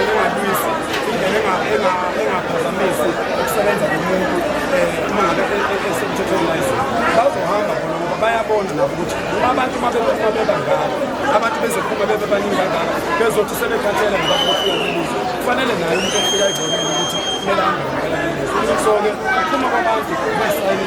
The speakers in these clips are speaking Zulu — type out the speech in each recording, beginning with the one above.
Engalwisi indlela engaphazamisi ukusebenza komuntu eh, uma ngabe e, e, e, esemthethweni wayizini bazohamba bona ngoba bayabona nabo ukuthi uma abantu uma bebephuma bebangaka abantu bezophuma bebebaningi kangaka bezothi sebekhathele ngoba bafika lelizo kufanele naye umuntu ofika ezoneni ukuthi kumele ahambe ngempela lelizo so-ke ukuphuma kwabantu kuyisayini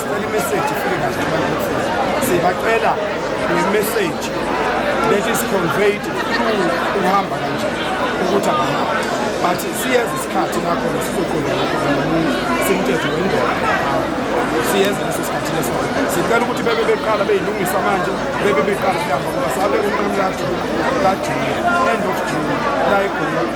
Sicela imeseji ifike kahle abantu sibacela ngemeseji that is conveyed through ukuhamba kanje ukuthi abahambe but siyeza isikhathi lapho sizoqonda lapho nomuntu simthetho wendoda siyeza leso sikhathi leso sicela ukuthi bebe beqala beyilungisa manje bebe beqala kuyahamba ngoba sabe umnqamlathi kajuni end of june la egoli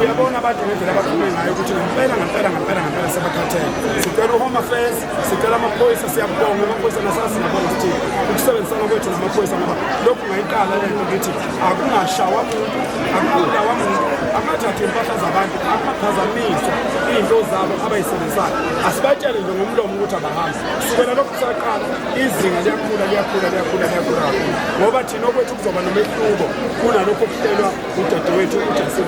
uyabona abantu ngendlela abaphume ngayo ukuthi ngempela ngempela ngempela ngempela sebakhathele sicela uhome affairs sicela amaphoyisa siyabonga amaphoyisa nasazi nabona sithi ukusebenzisana kwethu namaphoyisa ngoba lokhu ngayiqala lento ngithi akungashawa muntu akubulawa muntu akungathathi impahla zabantu akubaphazamisa iy'nto zabo abayisebenzisayo asibatshele nje ngomlomo ukuthi abahambi kusukela lokhu kusaqala izinga liyakhula liyakhula liyakhula liyakhula kakhulu ngoba Sinokwethu kuzoba nomehluko kunalokho okuhlelwa udadewethu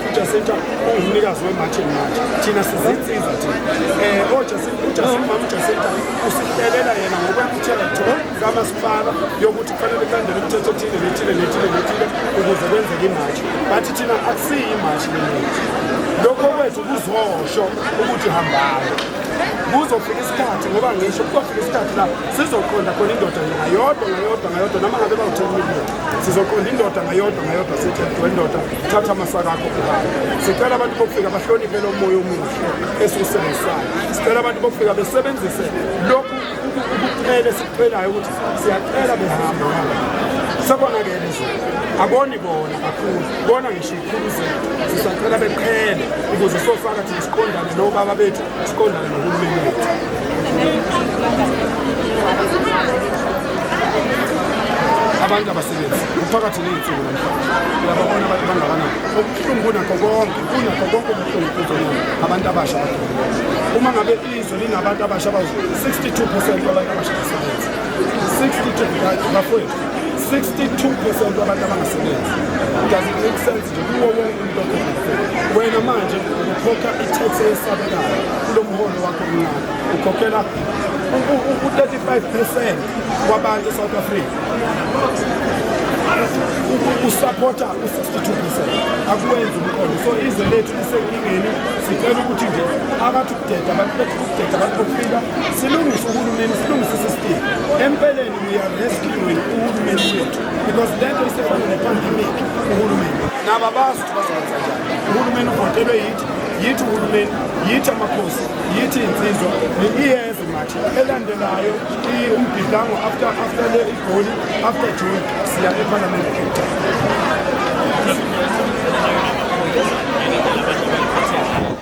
uJacinta ungumnikazi weMartin March. Thina sizinsiza thina. Eh oJacinta uJacinta mama uJacinta usihlelele yena ngokwemthela thola kamasipala yokuthi kufanele kulandele umthetho othile nethile nethile nethile ukuze kwenzeke imarch. Bathi thina akusiyi imarch lena. Lokho kwethu kuzosho ukuthi hambani. Kuzofika isikhathi ngoba ngisho kuzofika isikhathi la sizoqonda khona indoda ngayodwa ngayodwa ngayodwa noma ngabe bawuthenile sizoqonda indoda ngayodwa ngayodwa sithi wendoda thatha amasaka akho kuhamba sicela abantu bokufika bahloniphe lo moya omuhle esiwusebenzisayo sicela abantu bokufika besebenzise lokhu ukucela esikucelayo ukuthi siyacela behamba sekonakele nje akoni bona kakhulu bona ngisho sisacela beqhele ukuze sofaka thina siqondane nobaba bethu siqondane nohulumeni wethu abantu abasebenzi kuphakathi ney'nsuku namhlanje uyababona abantu bangakanani okubuhlungu kunakho konke kunakho konke okubuhlungu kuzona abantu abasha uma ngabe izwe linabantu abasha bawu-62 percent wabantu abasha basebenzi 62 bafowethu 62% wabantu abangasebenzi does it make sense nje kuwo wonke umuntu okhokha wena manje ukhokha i-tax eyesabekayo kulo mholo wakho omncane ukhokhela u-35 percent wabantu e-south africa usaphotha u-62 percent akuwenzi umqondo so izwe lethu lisenkingeni sicela ukuthi nje abathi ukudeda abantu bethu ukudeda abantu bokufika silungise uhulumeni silungise isisitimu empeleni We are rescuing uhulumeni wethu because lento isefana nepandemic uhulumeni nabo abazi ukuthi bazokwenza njani uhulumeni uvotelwe yithi yithi uhulumeni yithi amakhosi yithi insizwa iyeza imathi elandelayo umbhidango after after le igoli after june siya ephalamende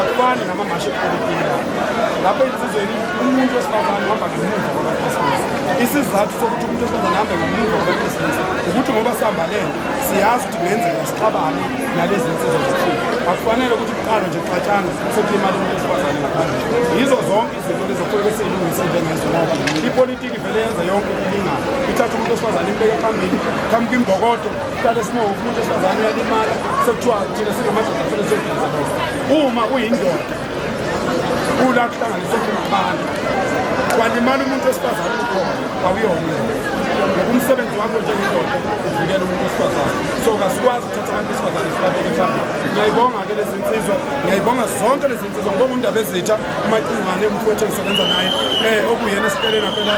akufani namamashi epolitiki lapho insizweni umuntu wesifazane uhamba ngemuva kwabakhisimusi isizathu sokuthi umuntu wesifazane ahambe ngemuva kwabakhisimusi ukuthi ngoba sihamba lento siyazi ukuthi kungenzeka sixabane nalezi nsizwa zethile akufanele ukuthi kuqalwe nje kuxatshana sekulimala umuntu wesifazane ngaphandle yizo zonke izinto lezokufanele siyilungise njengezo ngoba ipolitiki vele yenza yonke ilingana ithatha umuntu wesifazane imbeke phambili phambi kwimbokodo Kade sinomuntu wesifazane uyalimala sekuthiwa thina singamadoda kufanele siyogenza lokho. Uma uyindoda ula kuhlanganisa ngabantu walimala umuntu wesifazane ukhona awuyona ngoba umsebenzi wakho njengendoda uvikela umuntu wesifazane so kasikwazi ukuthatha abantu besifazane sibabeke phambili ngiyayibonga-ke lezi nsizwa ngiyayibonga zonke lezi nsizwa ngoba undaba ezitha umacingwane umfowethu engisebenza naye um okuyena esitelena phela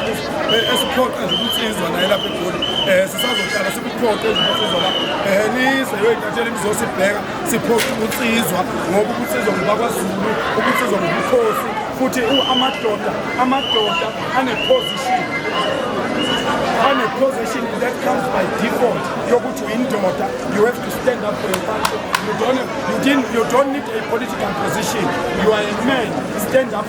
eh, esiphoqa nje ukuthi izwa naye lapha egoli um eh, sisazohlala sikuphoqe nje ukuthi izwa la um nizwe yoyintathela imizosibheka siphoqa ukuthi izwa ngoba ukuthi izwa ngubakwaZulu ukuthi izwa ngubukhosi futhi amadoda amadoda aneposition aneposition that comes by default yokuthi uyindoda you have to stand up for your country you don't, you, didn't, you don't need a political position you are a man stand up